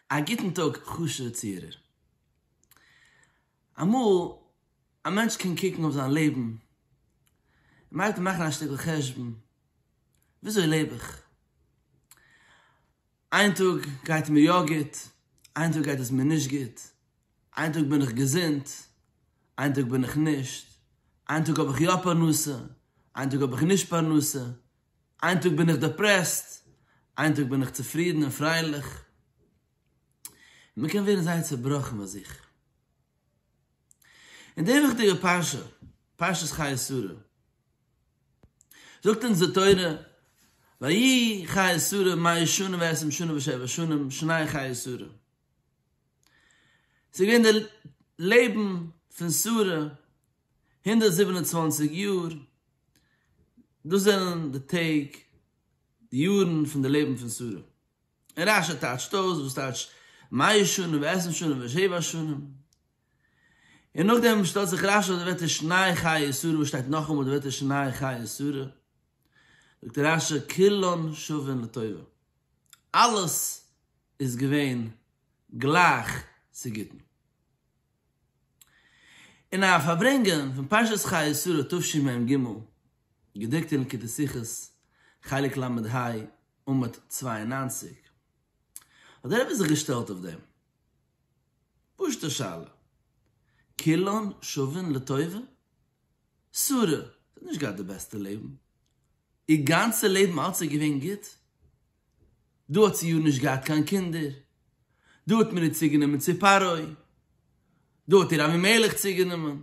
א גוטן טאג חשוב'ע צוהערער. אמאל א מענטש קען קוקן אויף זיין לעבן און מיידער מאכן א שטיקל חשבון, וויאזוי לעב איך? איין טאג גייט מיר יא גוט, איין טאג גייט עס מיר נישט גוט, איין טאג בין איך געזונט, איין טאג בין איך נישט, איין טאג האב איך יא פרנסה, איין טאג האב איך נישט פרנסה, איין טאג בין איך דעפרעסט, איין טאג בין איך צופרידן און פרייליך, און מען קען ווערן זייער צעבראכן ביי זיך. אין די וויכטיגע פרשה, פרשת חיי שרה, זאגט אונז די תורה, ויהי חיי שרה מאה שנה ועשרים שנה ושבע שנים שני חיי שרה, ס'איז געווען די לעבן פון שרה הונדערט זיבן און צוואַנציק יאר, דאס זענען די טעג, די יארן פון די לעבן פון שרה. און רש י טייטשט אויס וואס טייטשט מאה שנים ועשרים שנים ושבע שנים, און נאכדעם שטעלט זיך רש י אויף די ווערטער שני חיי שרה, וואס שטייט נאכאמאל די ווערטער שני חיי שרה, זאגט רש י כולן שווין לטובה, אלעס איז געווען גלייך צו גוטן. אין א פארברענגען פון פרשת חיי שרה תשי מ ג, געדרוקט אין לקוטי שיחות חלק ל ה עמוד צוויי און נײַנציק, האט דער רבי זיך געשטעלט אויף דעם פשוט'ע שאלה, כולן שווין לטובה? שרה האט נישט געהאט די בעסטע לעבן? איר גאנצע לעבן אלץ איז געווען גוט? דו האָט זי יאָ נישט געהאַט קײן קינדער, דו האָט מיר איר צוגענומען צו פַּרעה, דו האָט איר אַבֿימלך צוגענומען,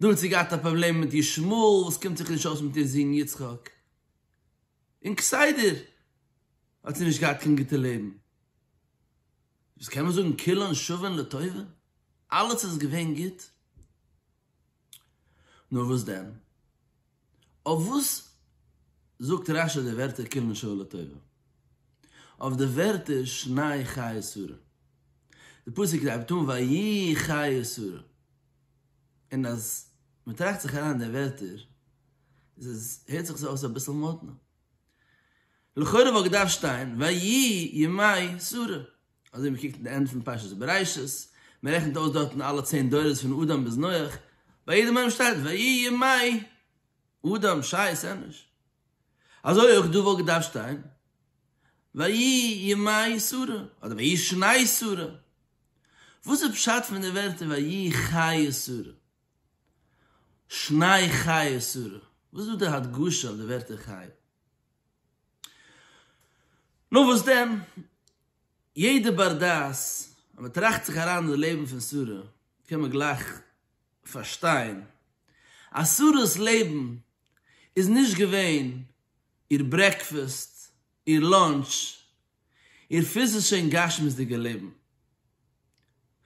דו האָט זי געהאַט אַ פּראָבלעם מיט ישמעאל, װאָס קומט זיך נישט אױס מיט איר זון יצחק, און כּסדר האָט זי נישט געהאַט קײן גוטע לעבן. דאָס קאָן מען זאָגן כּולן שװים לטובֿה, אַלץ איז געװען גוט. נאר וואס דען? אויף וואס זאגט רש י די ווערטער קומען שוין לטובה? אויף די ווערטער שניי חיי שרה. די פסוק הייבט אן ויהי חיי שרה, און אז מען טראכט זיך אריין אין די ווערטער איז עס, הערט זיך עס אויס אביסל מאדנע. לכאורה וואלט געדארפט שטיין ויהי ימי שרה. אזוי ווי מ'קוקט אין די ענד פון פרשת בראשית, מ'רעכנט אויס דארטן אלע צען דורות פון אדם ביז נח, ביי יעדע מהם שטייט ויהי ימי אדם שייס ענוש, אזוי אויך דא וואלט געדארפט שטיין ויהי ימי שרה אדער ויהי שני שרה, וואס איז פשט פון די ווערטער ויהי חיי שרה, שני חיי שרה, וואס איז דא די הדגשה אויף די ווערטער חיי? נו וואס דען? יעדער בר דעת ווען מען טראכט זיך אריין אין די לעבן פון שרה קען מען גלייך פארשטיין אז שרה'ס לעבן איז נישט געווען איר ברעקפעסט, איר לאנטש, איר פיזישע און גשמיות'דיגע לעבן,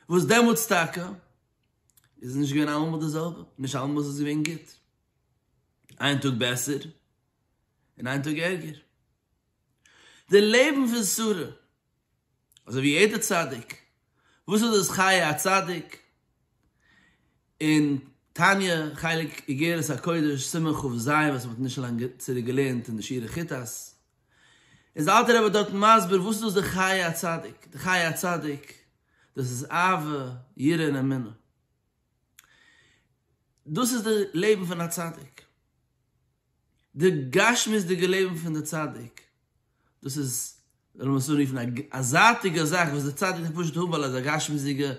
וואס דעמאלטס טאקע איז עס נישט געווען אלעמאל די זעלבע, נישט אלעמאל איז עס געווען גוט, איין טאג בעסער און איין טאג ערגער. די לעבן פון שרה, אזוי ווי יעדער צדיק, וואס איז דאס חיי הצדיק? אין תניא חלק אגרת הקודש סימן כב ז וואס מען האט נישט לאנג צוריק געלערנט אין די שיעורי כיתות, איז די אלטע רבי דארט מסביר וואס איז דאס די חיי הצדיק, די חיי הצדיק דאס איז אהבה יראה און אמונה, דאס איז די לעבן פון א צדיק, די גשמיות'דיגע לעבן פון די צדיק, דאס איז וועלן מיר עס אנרופן א זייטיגע זאך וואס די צדיק דארף פשוט האבן ווייל ער איז א גשמיות'דיגע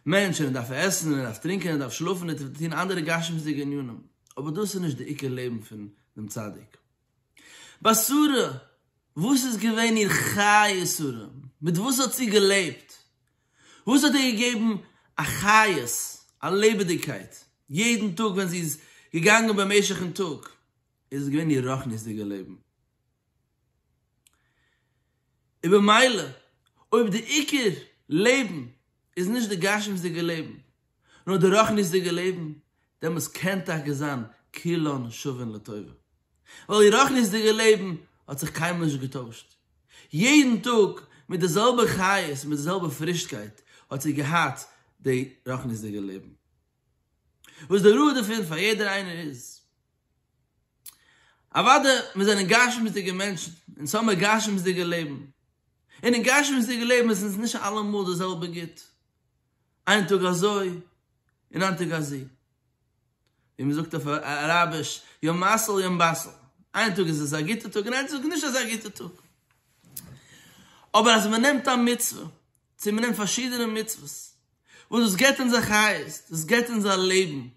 מענטש און ער דארף עסן און ער דארף טרינקען און ער דארף שלאפן און טון אנדערע גשמיות'דיגע ענינים, אבער דאס איז נישט די עיקר לעבן פון דעם צדיק. בשרה, וואס איז געווען איר חיי שרה? מיט וואס האט זי געלעבט? וואס האט איר געגעבן א חיות, א לעבעדיגקייט, יעדן טאג ווען זי איז געגאנגען במשך'ן טאג, איז עס געווען איר רוחניות'דיגע לעבן. און במילא, אויב די עיקר לעבן איז נישט די גשמיות'דיגע לעבן, נאר די רוחניות'דיגע לעבן, דעמאלס קען טאקע זיין כולן שווין לטובה. ווייל איר רוחניות'דיגע לעבן האט זיך קיינמאל נישט געטוישט. יעדן טאג מיט די זעלבע חיות, מיט די זעלבע פרישקייט האט איר געהאט די רוחניות'דיגע לעבן. וואס די ראי' דערפון פאר יעדער איינער איז. אוודאי מיר זענען גשמיות'דיגע מענטשן, אונז האמיר גשמיות'דיגע לעבן. און אין גשמיות'דיגע לעבן איז אונז נישט אלעמאל די זעלבע גוט. איין טאג אזוי און איין טאג אזי, ווי מען זאגט אויף אראביש יום מעשל יום בסל, איין טאג איז עס א גוטע טאג און איין טאג נישט אזא גוטע טאג, אבער אז מען נעמט א מצוה, צו מען נעמט פארשידענע מצוות, וואס דאס געבט אונז א חיות, דאס געבט אונז א לעבן,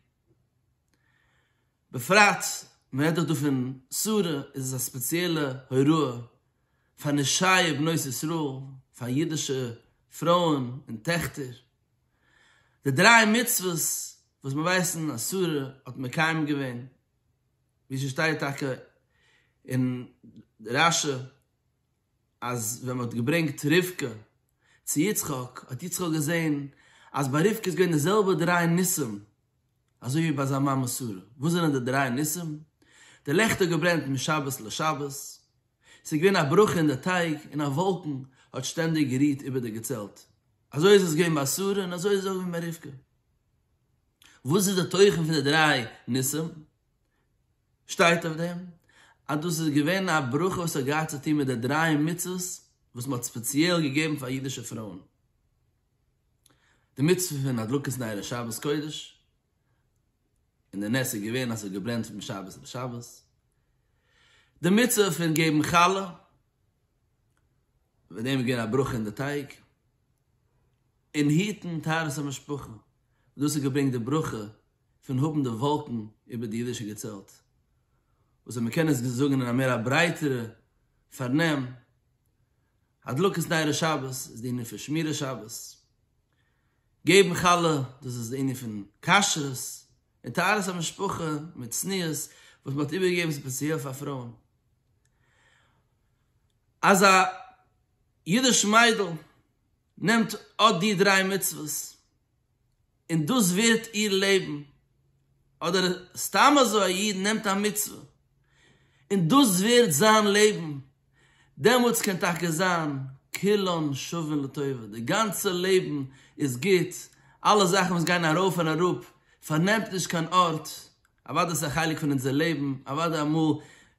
בפרט מען רעדט דאך דא פון שרה איז עס א ספעציעלע הוראה פאר נשאי בנות ישראל פאר אידישע פרויען און טעכטער, די דריי מצוות וואס מיר ווייסן אז שרה האט מקיים געווען, ווי ס'שטייט טאקע אין רשי. אז ווען מ'האט געברענגט רבקה צו יצחק האט יצחק געזען אז ביי רבקה איז געווען די זעלבע דריי ניסים אזוי ווי ביי זיין מאמע שרה, וואס זענען די דריי ניסים? די לעכט האט געברענט משבת לשבת, ס'איז געווען א ברכה אין די טייג און א וואלקן האט שטענדיג גערוהט איבער די געצעלט, אזוי איז עס געווען ביי שרה און אזוי איז עס אויך געווען ביי רבקה. וואס איז די תוכן פון די דריי ניסים? שטייט אויף דעם אז דאס איז געווען א ברכה וואס האט געהאט צו טון מיט די דריי מצוות וואס מען האט ספעציעל געגעבן פאר אידישע פרויען, די מצוה פון הדלקת נר אין שבת קודש, און די נס איז געווען אז עס האט געברענט פון שבת לשבת, די מצוה פון געבן חלה, ווען דעם איז געווען א ברכה אין די טייג, און היטן טהרת המשפחה, דאס האט געברענגט די ברכה פון האבן די וואלקן איבער די אידישע געצעלט, וואס ווען מען קען עס זאגן אין א מער א ברייטערע פארנעם, הדלקת נרות שבת איז די ענין פון שמירת שבת, געבן חלה דאס איז די ענין פון כשרות, און טהרת המשפחה מיט צניעות וואס מען האט איבערגעגעבן ספעציעל פאר פרויען. אז א אידיש מיידל נעמט אט די דריי מצוות און דאס ווערט איר לעבן, אדער סתם אזוי א איד נעמט א מצוה און דאס ווערט זיין לעבן, דעמאלטס קען טאקע זיין כולן שווין לטובה, די גאנצע לעבן איז גוט, אלע זאכן וואס גייען ארויף און אראפ פארנעמט נישט קיין ארט, אוודאי ס'איז א חלק פון אונזער לעבן, אוודאי אמאל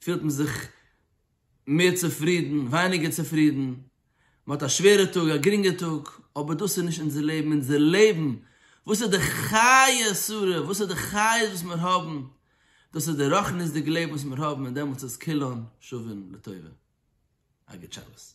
פילט מען זיך מער צופרידן, ווייניגער צופרידן, מען האט א שווערע טאג, א גרינגע טאג, אבער דאס איז נישט אונזער לעבן, אונזער לעבן, וואס איז די חי' שרה, וואס איז די חיות וואס מיר האבן, דאס איז די רוחניות'דיגע לעבן וואס מיר האבן, און דעמאלטס איז כולן שווין לטובה. א גוט שבת.